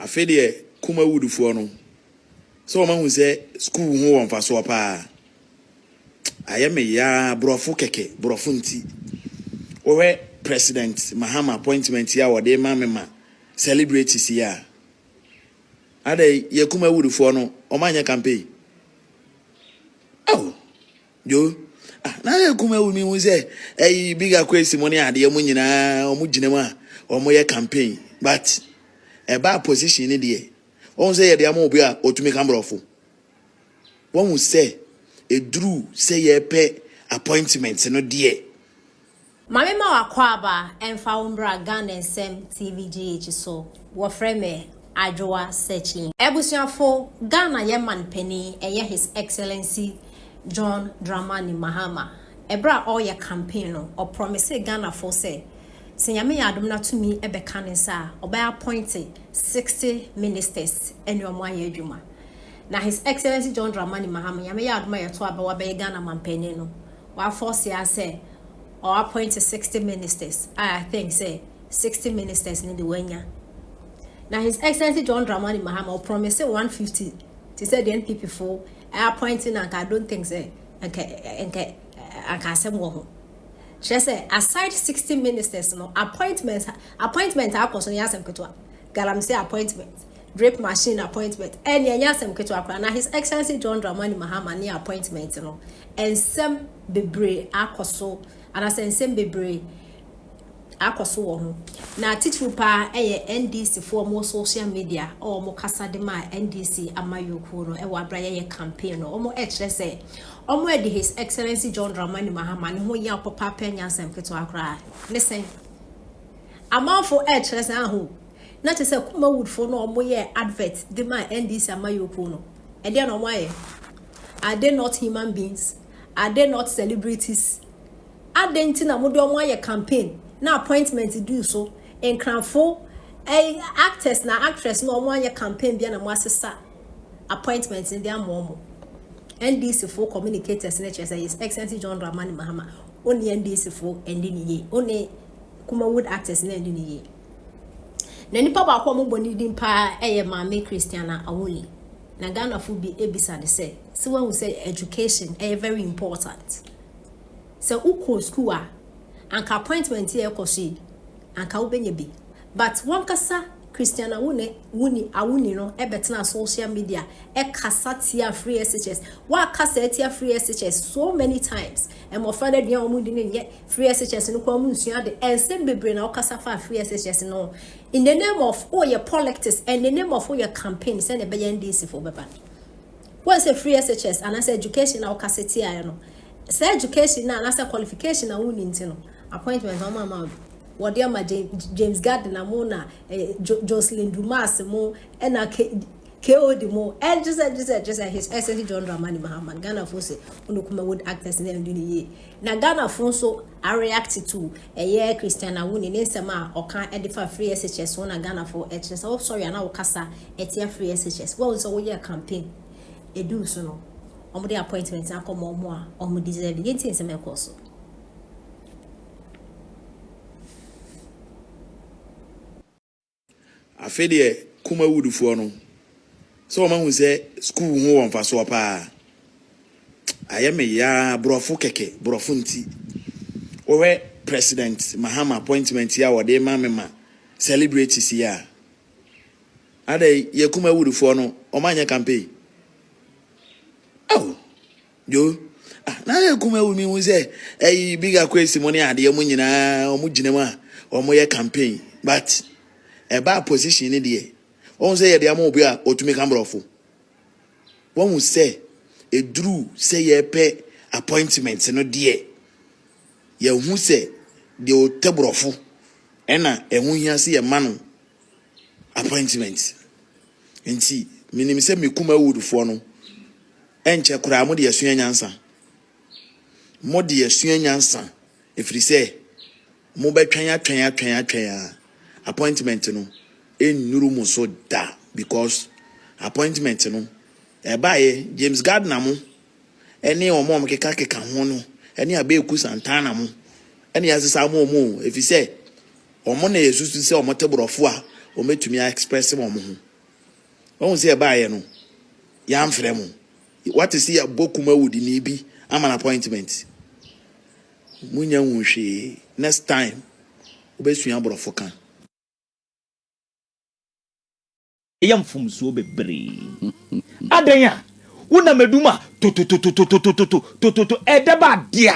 Afei deɛ Kumawood foɔ no sɛ wɔn ahu sɛ sukuu ho wɔ mfasoɔ paa ayɛ me yaa borɔfo kɛkɛ borɔfo nti wɔhwɛ president Mahama appointment yi a wɔde ma me ma celebrate si a adɛ yɛ Kumawood foɔ no wɔn anyɛ campaign oh Yo ah na yɛ kuma wu mi hu sɛ ɛyi biga kwesi mo ne adeɛ mo nyinaa ɔmo gyina mu a ɔmo yɛ campaign but ɛbaa position ne deɛ wɔn sɛ yɛde ama obi a ɔtumi ka borɔfo wɔn sɛ ɛduru sɛ yɛpɛ appointment no deɛ Mame ma w'akwaaba ɛmfa wo mbra Ghana nsɛm TV GH so, wɔfrɛ me Adwoa Searchy. Abusuafo, Ghana yɛ man panin ɛyɛ His Excellency John Dramani Mahama, ɛberɛ a ɔreyɛ campaign no, ɔprɔmisee Ghanafoɔ sɛ, sɛ Nyame yɛ adom na tumi bɛka ne nsa a, ɔbɛ appointe 60 ministers ɛne wɔn ayɛ adwuma. Na His Excellency John Dramani Mahama, Nyame yɛ adom a yɛto abɛ wabɛyɛ Ghana man panin no, w'afɔɔse ara sɛ, Ɔ appoint sixty ministers a I think sɛ sixty ministers no de wanya. Na His Excellency John Dramani Mahama ɔ promise one hundred and fifty te sɛ deɛ NPP fo ɛ appoint no anka I don't think sɛ anka anka anka asɛm wɔ ho. Kyerɛ sɛ aside sixty ministers no appointment appointment a akɔ so no yɛ asɛm ketewa. Galamsey appointment. Drip machine appointment ɛnneɛ ɛnyɛ asɛm ketewa koraa na His Excellency John Dramani Mahama ne appointment no nsɛm bebree akɔso anaasɛ nsɛm bebree akɔso wɔ ho na titiriw paa ɛyɛ NDC foɔ mo social media a wɔn kasa de maa NDC amayɔkuo no ɛwɔ abira yɛyɛ campaign no wɔn ɛkyerɛ sɛ wɔn ɛde His Excellency John Dramani Mahama ne ho yɛ papa pɛ nyɛ asɛm ketewa koraa ne sɛn amanfo ɛkyerɛ sɛ aho. Na kyerɛ sɛ Kumawoodfoɔ no a wɔyɛɛ advert de maa NDC amayɔkuo no, ɛdeɛn na wɔayɛ? Are they not human beings? Are they not celebrities? Adɛn nti na mode wɔn ayɛ campaign na appointment duu so? Nkranfo ɛy actors na actress no a wɔanyɛ campaign bia na moasesa appointment no de ama wɔn. NDC foɔ communicators no kyerɛ sɛ His Excellency John Dramani Mahama, wo ne NDC foɔ ɛnni no yie, wo ne Kumawood actors no ɛnni no yie. Na nipa baako a wɔbɔ ne din paa yɛ Maame Christiana Awole. Na Ghanafo bi bisa no sɛ, sɛ wahu sɛ education ɛyɛ very important. Sɛ wokɔ school a, anka appointment yɛ ɛkɔ so yi, anka wobɛnya bi. But wankasa Christiana Awone, Wuni, Awuni no ɛbɛtena social media ɛkasa tia free SHS. Wakasa atia free SHS so many times. Mmɔfra no aduan a wɔdi no nyɛ, Free SHS no koraa mu nsua ade, nsɛm bebree na wokasa faa free SHS no ho in the name of woyɛ polictics and the name of woyɛ campaign sɛnea ɛbɛyɛ NDC foɔ bɛba. Woahu sɛ free SHS anaasɛ education a wokasa tiaeɛ no, saa education no anaasɛ qualification a wonni nti no, appointment wɔn ama wo wɔde ama James Gardner mo na eh, jo Jocelyn Dumas mo ɛna KOD mo ɛn just just just his SSC John Dramani Mahama Ghana fo se onokuma wood actors na ɛndi ne yie Na Ghanafoɔ nso a react to ɛyɛ Christian Awuni ne nsɛm a ɔka de fa free SHS ho na Ghanafoɔ ɛkyerɛ sɛ wo sɔre anaa wo kasa ɛtia free SHS. Woahu sɛ wo yɛɛ campaign ɛduu so no wɔn de appointment akɔ ma wɔn a wɔn deserve yɛn nti nsɛm ɛkɔɔ so. Afei deɛ Kuma wood foɔ no sɛ wɔn ahu sɛ school ho wɔ mfasoɔ paa ayɛ me yaa borɔfo kɛkɛ borɔfo nti wɔhwɛ president Mahama appointment yi a wɔde ma me ma celebrate si a adɛ yɛ Kuma wood foɔ no wɔn anyɛ campaign oh Yo ah na ayɛ kuma wu mi hu sɛ ɛyi big akwesi mo ne adeɛ mo nyinaa ɔmo gyina mu a ɔmo yɛ campaign but ɛbaa position ne deɛ wɔn sɛ yɛde ama obi a ɔtumi ka mborɔfo wɔn sɛ ɛduru sɛ yɛpɛ appointment no deɛ yɛhu sɛ deɛ ɔtɛ borɔfo ɛna ɛho hia sɛ yɛma no appointment nti menim sɛ me kuma woodfoɔ no Ɛnkyɛ koraa mode asua nyansa. Mode asua nyansa, ɛfiri sɛ mobɛtwɛn atwɛn atwɛn atwɛn a appointment no ɛnnuru mo so da because appointment no ɛbaeɛ James Gardner mo ɛne wɔn a wɔkeka keka ho no ɛne Abeeku Santana mo ɛne asesa mo wɔn o ɛfiri sɛ wɔn na yɛsusu sɛ wɔte borɔfo a wɔbɛtumi a express wɔn ho Wahu sɛ yɛbaeɛ no, yɛamfrɛ mo. Wate sɛ yɛabɔ kum awudini bi ama no appointment. Monnya nhuu hwee. Next time, wobɛsua Borɔfo ka. Ɛyɛ mfomsoɔ bebree. Adɛn a wonam adum a totototototototototototo ɛdɛ ba dea.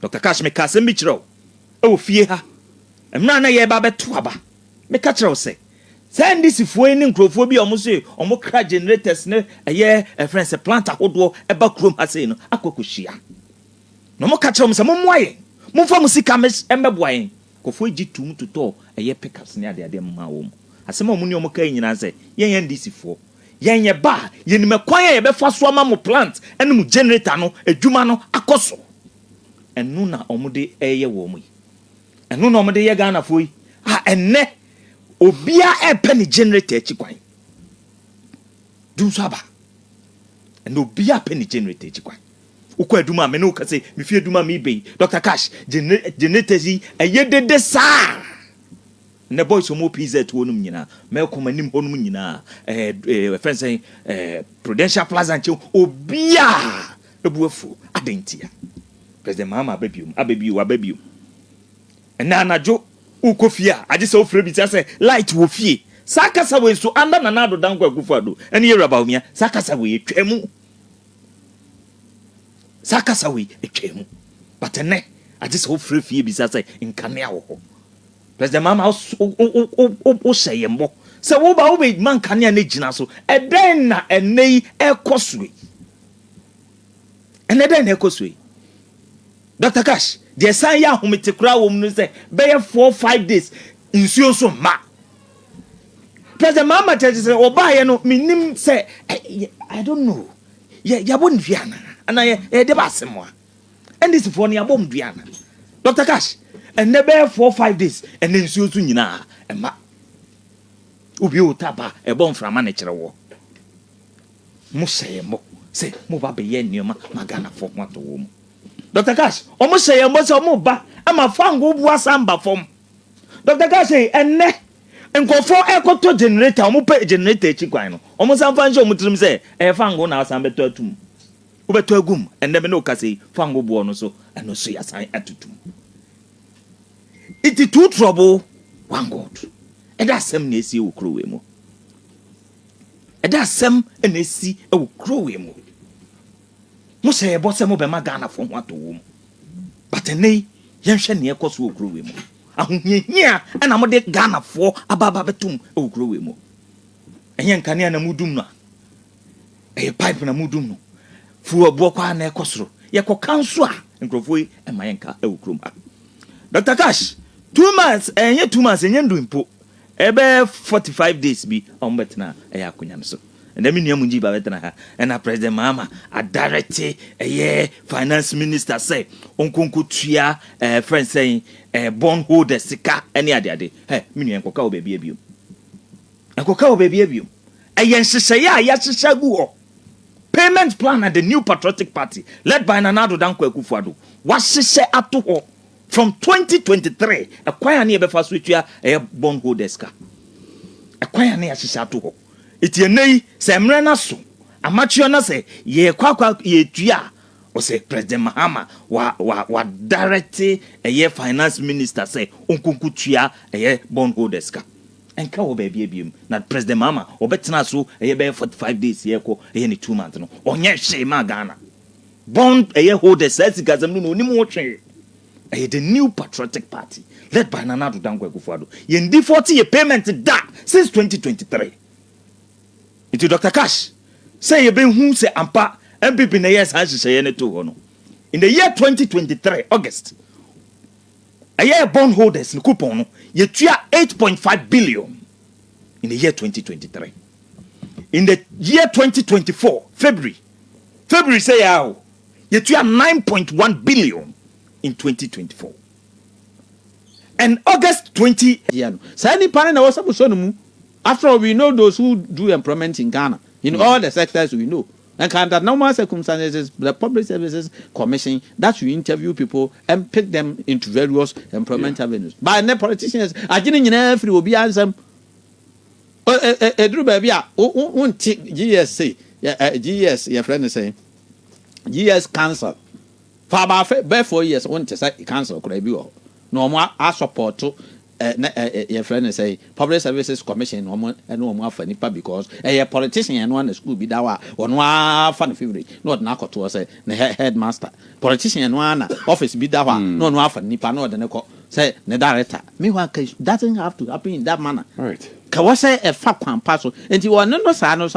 Doctor Cash, meka asɛm bi kyerɛ wo wɔ fie ha, mmerɛ a na yɛreba abɛto aba, meka kyerɛ wo sɛ, saa NDC foɔ yi ne nkorɔfoɔ bi a wɔn se wɔn kra generators ne ɛyɛ yɛfrɛ no sɛ plant ahodoɔ ɛba kurom ha sei no akɔ akɔhyia. Na wɔn ka kyerɛ wɔn sɛ mommoa yɛn, momfa mo sika mmɛboa yɛn. Nkorɔfoɔ yi gye toom totɔɔ ɛyɛ pickups ne adeadeɛ maa wɔn. Asɛm a wɔn ne wɔn kaeɛ nyinaa ne sɛ, yɛn NDC foɔ, Yɛn yɛ ba a, yɛnim ɛkwan a yɛbɛfa so ama mo plant ne mo generator no adwuma no akɔ so. Ɛno na wɔde reyɛ wɔ mu yi. Ɛno na wɔde reyɛ Ghanafoɔ yi a ɛnnɛ obiara repɛ ne generator akyi kwan. Du nso aba. Ɛnnɛ obiara pɛ ne generator akyi kwan. Wokɔ adum a, me ne wo ka sɛ, me fie adum a mebɛ yi, Dr. Cash, generator yi, ɛyɛ dede saa. Nnɛ boys a wɔwɔ PZ hɔ nom nyinaa, Melcom anim hɔ nom nyinaa, ɛɛ ɛɛ wɔfrɛ no sɛn, ɛɛ Prudential Plaza nkyɛn, obiara bo afuo. Adɛn ntia? President Mahama aba biom, aba bio, waba biom. Ɛnnɛ anadwo wokɔ fie a, agye sɛ wofrɛ bisa sɛ light wɔ fie. Saa kasa wei nso, under Nana Addo Dankwa Akufo-Addo ne Yawura Bawumia, saa kasa wei atwaa mu. Saa kasa wei atwaa mu. But ɛnnɛ, agye sɛ wofrɛ fie bisa sɛ nkanea wɔ hɔ. President Mahama wo hyɛ yɛn bɔ sɛ wo ba wo bɛ ma nkanea ne gyina so. Ɛdɛn na ɛnɛ yi ɛkɔ so yi? Ɛnɛ dɛn na ɛkɔ so yi? Dr. Cash, deɛ san yɛ ahomete koraa wɔ mu no sɛ bɛyɛ four five days nsuo nso mma. President Mahama kyerɛ sɛ ɔbaayɛ no menim sɛ I don't know yɛabɔ ne dua anaa anaa yɛde ba asɛm a. NDC foɔ no yabɔ ɔmo dua ana? Doctor Cash, ɛnɛ bɛyɛ four five days ɛnɛ nsuo so nyinaa ɛma. Wobie wo tap a ɛbɔ mframa na ɛkyerɛ woɔ. Mo hyɛ yɛn bɔ sɛ mo ba bɛyɛ nneɛma ma Ghana foɔ ho atɔ wɔn mu. Doctor Cash, ɔmo hyɛ yɛn bɔ sɛ ɔmo ba ama fangoo boa san ba fam. Doctor Cash ei ɛnɛ nkorɔfoɔ ɛkɔtɔ generator ɔmo pɛ generator akyi kwan no ɔmo san fa nhyɛ ɔmo tirim sɛ ɛyɛ fangoo na asan bɛtɔ atum. Wobɛtɔ agu mu. Ɛnnɛ me ne wo kasa yi, fa ngo boɔ no so, ɛno nso yɛasan atutu mu. Nti two trouble, one God. Ɛdɛ asɛm na ɛsi wɔ kuro wei mu. Ɛdɛ asɛm na ɛsi wɔ kuro wei mu. Mo hyɛ yɛbɔ sɛ mobɛma Ghanafoɔ ho atɔ wɔ mu. But ɛnnɛ yi, yɛnhwɛ nea ɛkɔ so wɔ kuro wei mu. Ahohiahia na mode Ghanafoɔ aba aba abɛtom wɔ kuro wei mu. Ɛnyɛ nkanea na modum no a, Ɛyɛ pipe na modum no firi ɛboɔ kɔ ara na ɛkɔ soro. Yɛkɔka nso a, nkurɔfoɔ yi mma yɛnka wɔ kurom ha. Doctor Kash, two months, ɛnyɛ two months, ɛnyɛ ndu mpo, ɛbɛyɛ forty five days bi a wɔbɛtena ɛyɛ akonnwa no so. Ɛnnɛ me nua Munjiba bɛtena ha, ɛna President Mahama adirɛte ɛyɛ Finance Minister sɛ ɔnkɔ nkɔtua ɛɛ frɛ no sɛn ɛɛ bond holder sika ne adeade. Hɛ, me nua nkɔka wɔ baabiara biom. Nkɔka wɔ baabiara biom. Ɛyɛ nhyehyɛeɛ a yɛahyehyɛ agu hɔ, payment plan a the new patriotic party led by Nana Addo Dankwa Akufo-Addo wahyehyɛ ato hɔ from twenty twenty three, ɛkwan a ne yɛbɛfa so atua ɛyɛ bond holders ka. Ɛkwan a ne yɛahyehyɛ ato hɔ. Enti ɛnnɛ yi, sɛ mmerɛ no aso, amateur na sɛ yɛrekɔ akɔ yɛretua a, ɔsɛ President Mahama wa, wa, wa direct ɛyɛ finance minister sɛ ɔnkɔ nkɔtua ɛyɛ bond holders ka. Ɛnka wɔ baabi a biom. Na President Mahama ɔbɛtenaa so ɛyɛ bɛyɛ forty five days yɛ ɛkɔ ɛyɛ ne two months no ɔnyɛ hwee maa Ghana. Bond ɛyɛ holders saa sikasɛm no no ɔnim ho hwee. Ɛyɛ the new patriotic party led by Nana Addo Dankwa Akufo Addo. Yɛn default yɛ payment da since twenty twenty three. Nti Doctor Cash sɛ yɛbɛhu sɛ ampa NPP na ɛyɛɛ saa nhyehyɛeɛ no too hɔ no in the year twenty twenty three August. Ɛyɛɛ bond holders no coupon no, yɛtua eight point five billion in the year twenty twenty three. In the year twenty twenty four, February, February sɛ yɛa o, yɛtua nine point one billion in twenty twenty four. And August twenty. Yɛ no. Saa nipa no na ɛwɔ sɛ mosɔ no mu. After all, we know those who do employment in Ghana, in all the sectors we know. And can the normal circumstances the Public Services Commission that should interview people and pick them into various employment yeah. avenues but ɛnɛ politicians agye ne nyinaa firi obiara nsɛm ɛduru baabi a wonte gs se gs yɛfrɛ no sɛn gs council for about bɛɛ four years wonte sɛ council koraa bi wɔ hɔ na wɔn asɔpɔto Eh na eh eh yɛfrɛ no sɛn public services commission na ɔmo ɛne ɔmo afa nipa because ɛyɛ politician ɛno a na school bi da hɔ a ɔno ara fa no favourite na ɔde no akɔtoɔ sɛ ne head headmaster politician ɛno ara na office bi da hɔ a na ɔno ara fa no nipa na ɔde no kɔ sɛ ne director meanwhile ka doesn't have to happen in that manner Right. kɛwɔ sɛ ɛfa kwan pa so nti ɔne no saa no so